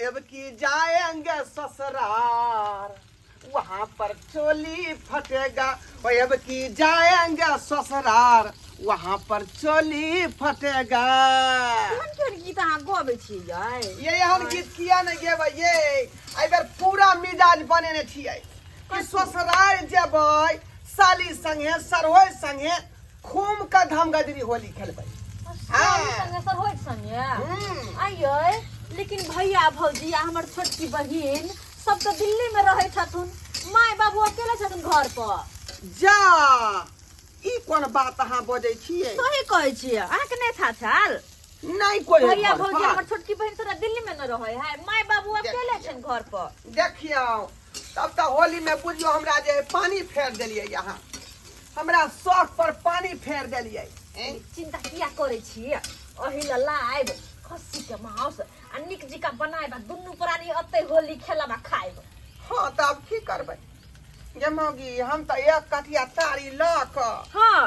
अब की जाएंगे ससुरार वहाँ पर चोली फटेगा ओ अब की जाएंगे ससुरार वहाँ पर चोली फटेगा एहन केहन गीत अहाँ गबै छियै ये एहन गीत किया ने गेबै ये एहि बेर पूरा मिजाज बनेने छियै कि ससुरार जेबै साली संगे सरहोय संगे घूम के धमगजरी होली खेलबै संगे संगे सर होइत संगे हम्म, आइये लेकिन भैया भौजी आ हमर छोटकी बहिन सब तऽ दिल्ली में रहै छथुन माय बाबू अकेले छथुन घर पर जा ई कोन बात अहाँ बजै छियै सही कहै छियै अहाँके नहि था छल नहि कोइ है भैया घर भौजी पर। हमर छोटकी बहिन तोरा दिल्ली में न रहै है माय बाबू अकेले छन घर पर देखियौ तब तऽ होली में बुझियौ हमरा जे है पानी फेर देलियै अहाँ हमरा शौक पर पानी फेर देलिए चिंता किया करे छी अही ल लाइब खस्सी के मांस आ निक जिका बनाइब आ दुनू प्राणी अते होली खेलब आ खाइब हां त अब की करबै जे मौगी हम त एक कटिया तारी ल क हां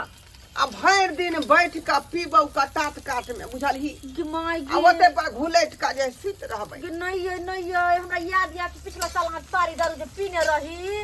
आ भर दिन बैठ क पीबौ क तात काट में बुझलही कि माय गे ओते पर घुलैट क जे सुत रहबै कि नहीं ये नहीं ये हमरा याद या पिछला साल हम तारी दारू जे पीने रही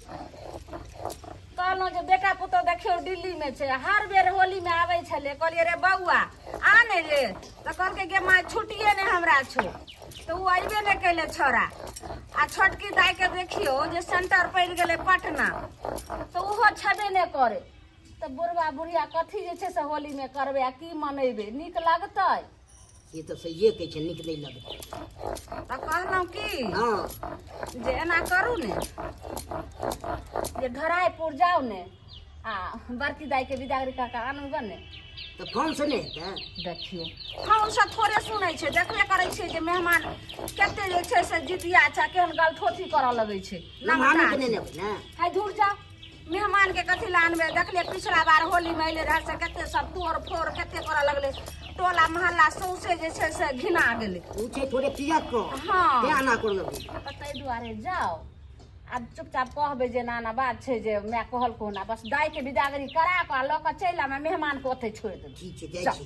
कहलहुँ जे बेटा पुतहु देखियौ दिल्लीमे छै हर बेर होलीमे आबै छलै कहलियै रे बौआ आ ने रे तऽ कहलकै गे माँ छुट्टिए नहि हमरा छौ तऽ ओ अयबे नहि कैले छोड़ा आ छोटकी दाइके देखियौ जे सेंटर पड़ि गेलै पटना तऽ ओहो छेबे नहि करे तऽ बुढ़वा बुढ़िया कथी जे छै से होलीमे करबै आ की मनेबै नीक लगतै से तऽ सहिए कहै छै नीक नहि लगतै तऽ कहलहुँ की हँ जे एना करू ने जे धराइपुर जाउ ने आ बड़की दाइके बिदागरी कऽ कऽ आनू गऽ ने तऽ फोन से नहि हेतै देखियौ हम ओसभ थोड़े सुनै छै देखबे करै छियै जे मेहमान कते जे छै से जितिया छै केहन गलठोठी करऽ लगै छै मेहमानो के नहि लेबै ने है धूर जा मेहमानके कथी लए अनबै देखलियै पिछला बार होलीमे अयलै रहए से कते सब तोड़ फोड़ कते करऽ लगलै टोला महल्ला सौंसे जे छै से घिना गेलै उ छै थोड़े किया को हँ ते आना कर लग तऽ ताहि दुआरे जाउ आ चुपचाप कहबै जे नाना बात छै जे माय कहलको ना बस दाइके बिदागरी करा कऽ आ लऽ कऽ चलि आयब आ मेहमानके ओतहि छोड़ि देबै ठीक छै जाइ छी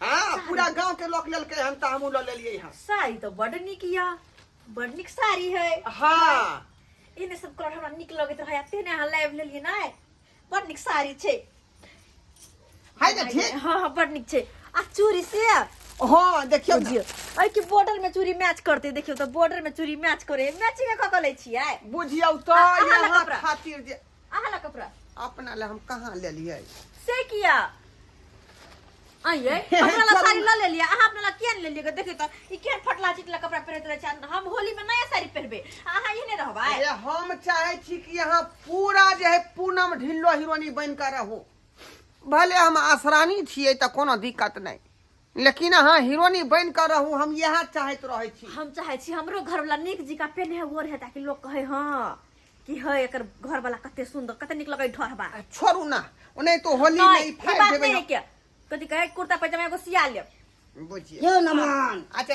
हाँ पूरा गांव के लोग लेलके हम त हमहू ल लेलिए हां साड़ी तो बड़ निक या बड़ निक साड़ी है हां इने सब कलर हमरा निक लगैत रहे अते ने अहाँ लाइव लेलिए ना बड़ निक साड़ी छै हाय त ठीक हां हां बड़ निक छै आ चूड़ी से हां देखियो बुझियो ऐ के बॉर्डर में चूड़ी मैच करते देखियो त बॉर्डर में चूड़ी मैच करे मैचिंग क क लै छियै बुझियो त अहाँ लग यहाँ कपड़ा। खातिर जे अहाँ ला कपड़ा अपना ले हम कहाँ ले लिए से किया आइए अपना ला साड़ी ला ले लिया अहाँ अपना ला किया नहीं ले लिया देखिए तो ई केहन फटला चिटला कपड़ा पहनत रहे छन हम होली में नया साड़ी पहनबे अहाँ ये नहीं रहबा अरे हम चाहे छी कि यहाँ पूरा जे है पूनम ढिल्लो हिरोनी बन कर रहू भले हम आसरानी छियै तऽ कोनो दिक्कत नहि लेकिन अहाँ हीरोनी बन कर रहू हम यह चाहत रहे छी हम चाहे छी हमरो घर वाला निक जी का पेन है वो रहे ताकि लोग कहे हाँ कि है एक घर वाला कते सुंदर कते निक लगे ढोरबा छोड़ू ना उन्हें तो होली में ही फाड़ देबे ना क्या कथि कहे कुर्ता पैजामा एगो सिया ले बुझिए यो नमन अच्छा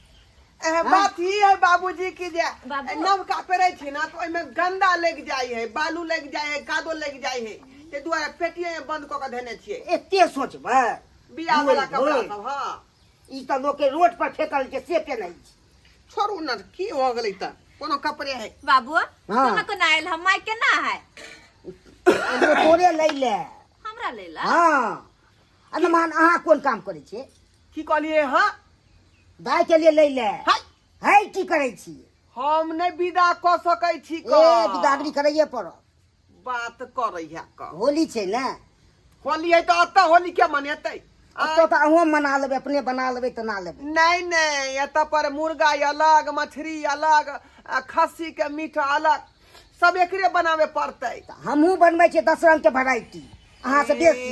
एह, बात ई है बाबूजी की जे बाबू। नवका पेरे छी ना तो ओहिमे गंदा लग जाय है बालू लग जाय है कादो लग जाय है ते दुआरे पेटिये में बंद क के धने छियै एते सोचबै बियाह वाला धोइ, कपड़ा धोइ। सब हाँ ई तऽ लोकके रोड पर फेकल छै से केने छी छोड़ू ना की हो गेलै त कोनो कपड़े है बाबू हाँ। कहाँ कोना आयल हम माय केना है एगो तोरे लै ले हमरा ले ला हँ अरे मान अहाँ कोन काम करै छियै की कहलिए हां दाय के लिए ले ले हाय हाय की करे छी हम नै विदा क सकै छी क ए बिदागरी करैए पर बात करै है क होली छै ना होली है त अत्ता होली के मनेतै तो तो अहो मना लेबे अपने बना लेबे त ना लेबे नहीं नहीं एत पर मुर्गा अलग मछली अलग खस्सी के मीट अलग सब एकरे बनावे पड़ते हमहू बनबे छे दस रंग के वैरायटी अहाँ से बेसी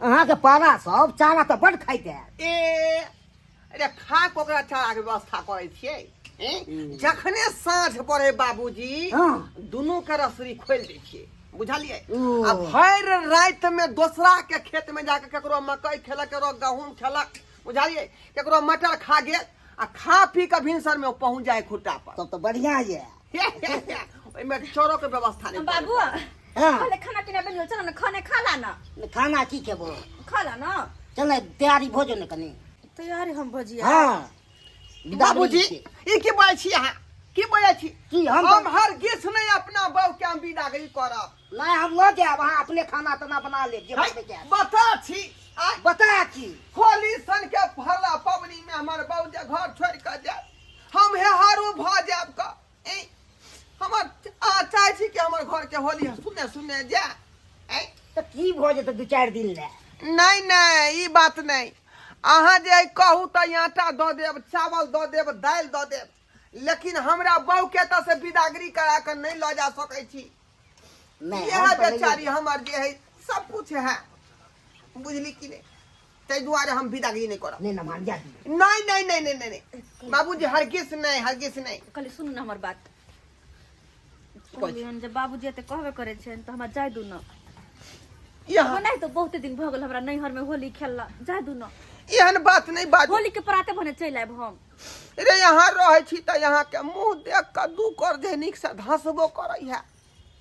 अहाँके पारा सब चारा तऽ बड खाइते ए अरे खा कऽ ओकरा चाराके व्यवस्था करै छियै ए, जखने साँझ पड़े बाबूजी हँ। दुनू के रसरी खोलि दै छियै बुझलियै ओ। आ भरि राति मे दोसरा के खेत में जाके केकरो मकई खेलक केकरो गहूम खेलक बुझलियै केकरो मटर खा गेल आ खा पी के भिनसर में पहुंच जाए खुट्टा पर तब तऽ बढ़िया ये ओहिमे चोरो के व्यवस्था नहीं बाबू हाँ। पहले खाना पीना बन लो चलो ना खाने खा ला ना खाना की खेबो खा ला ना चल तैयारी भोजन ने कनी तैयारी हम भजिया हाँ बाबूजी ई की बोलै छी अहाँ की बोलै छी की हम हम हर गिस नहीं अपना बहू के हम विदा गई करब नहि हम लऽ जायब अहाँ अपने खाना ताना बना लेब जे बनबै के बता छी आइ बता छी होली सन के भरला पबनी में हमर बाबू जे घर छोड़ के जाए हम हे हारू भ जाब क ए हमर आ चाहे छी कि हमर घर के होली सुने सुने जाए ए तऽ की भऽ जेतै दू चारि दिन लए नहीं नहीं ई बात नहीं अहाँ जे आइ कहू तऽ ई आटा दऽ देब चावल दऽ देब दालि दऽ देब लेकिन हमरा बहू के एतऽ से बिदागरी करा कऽ नहि लऽ जा सकै छी इएह बेचारी हमर जे है सब कुछ है बुझली कि नहीं ताहि दुआरे हम विदागी नहीं करब नहीं नमान जा नहीं नहीं नहीं नहीं नहीं, नहीं बाबूजी हरगिस नहीं हरगिस नहीं कहली सुनू ने हमर बात कहलियनि जे बाबूजी एते कहबे करै छनि तऽ हमरा जाय दू ने यहाँ ओनाहि तऽ बहुते दिन भऽ गेल हमरा नैहरमे होली खेलला जाय दू ने एहन बात नहीं बाजू होली के पराते भने चलि आयब हम रे यहाँ रहै छी तऽ यहाँ के मुंह देख के दू कर दे नीक से धसबो करै है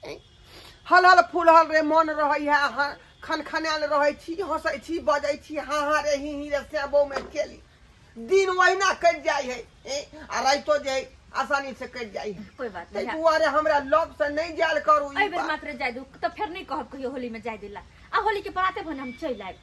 ए, हलहल फुलहल रे मन रहै है ह- खनखनायल रहै छी हंसै छी बजै छी हाँ हाँ रे ही ही रे सेबो में चली दिन ओहिना कटि जाइ है ए, आ राइतो जे है, आसानी से कटि जाइ है कोई बात ताहि नहीं दुआरे हमरा लग से नहीं जायल करू ई एहि बेर बात। मात्र जाय दू तऽ फेर नहि कहब कहियो होली में जाय दिला आ होली के बराते भने हम चलि आयब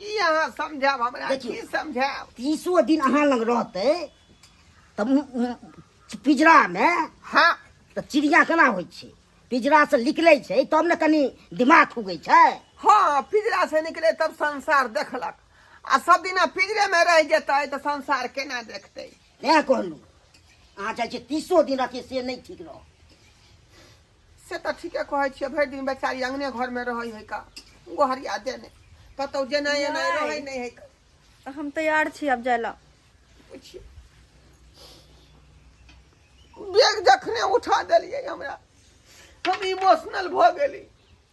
की अहाँ समझाब हमरा देखियौ। की समझाब तीसो दिन अहाँ लग रहतै तऽ मु- मु- पिजरामे हाँ तऽ चिड़िया केना होइ छै पिजरासँ निकलै छै तब ने कनि दिमाग खुगै छै हाँ पिजरा से निकले तब संसार देखलक आ सब दिना पिजरे में रह जेतै तऽ संसार केना देखतै तैँ कहलहुँ अहाँ चाहै छियै तीसो दिन रहतै से नहि ठीक रह से तऽ ठीके कहै छियै भरि दिन बेचारी अंगने घर में रहै है का गोहरिया देने कतौ जेना एना नहि। रहै नहि है का तऽ हम तैयार छी आब जाय लए पूछिए बैग जखने उठा देलियै हमरा हम इमोशनल भऽ गेली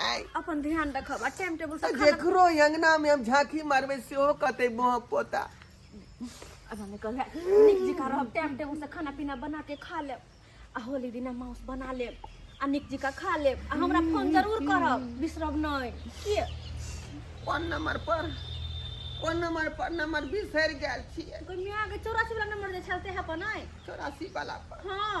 आय अपन ध्यान रखब आ टाइम टेबल से खाना जेकरो अंगना में हम झांकी मारबे सेहो कहते बोह पोता अब हमें कहले नीक जिका रहब टाइम टेबल से खाना पीना बना के खा लेब आ होली दिना माउस बना लेब आ नीक जिका खा लेब आ हमरा फोन जरूर करब बिसरब नहीं किए कोन नंबर पर कोन नंबर पर नंबर बिसर गेल छिए कोई मियाँ के चौरासी वाला नंबर जे छलते है पर नहीं चौरासी वाला पर हाँ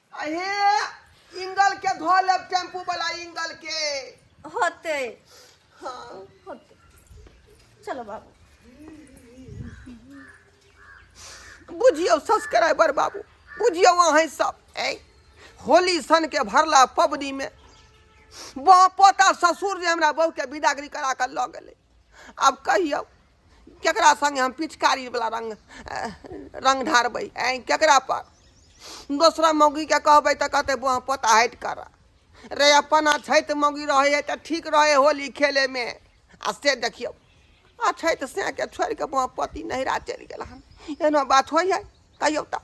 अहे इंगल के धो लेब टेम्पू वाला इंगल के होते हाँ होते चलो बाबू बुझियौ सब्सक्राइबर बाबू बुझियौ अहें सब ए होली सन के भरला पबनी में बाप पोता ससुर जे हमरा बहू के विदागरी करा के लऽ गेलै आब कहियौ केकरा सङ्गे हम पिचकारीवला रङ्ग रङ्ग ढारबै आँय केकरा पर दोसरा मौगीके कहबै तऽ कहतै बौआ पोता हटि कर रे अपन अछैत मौगी रहै हइ तऽ ठीक रहै हइ होली खेलेमे आ से देखियौ अछैत सेके छोड़ि कऽ बौआ पति नहिरा चलि गेल हन एना बात होइ हइ कहियौ तऽ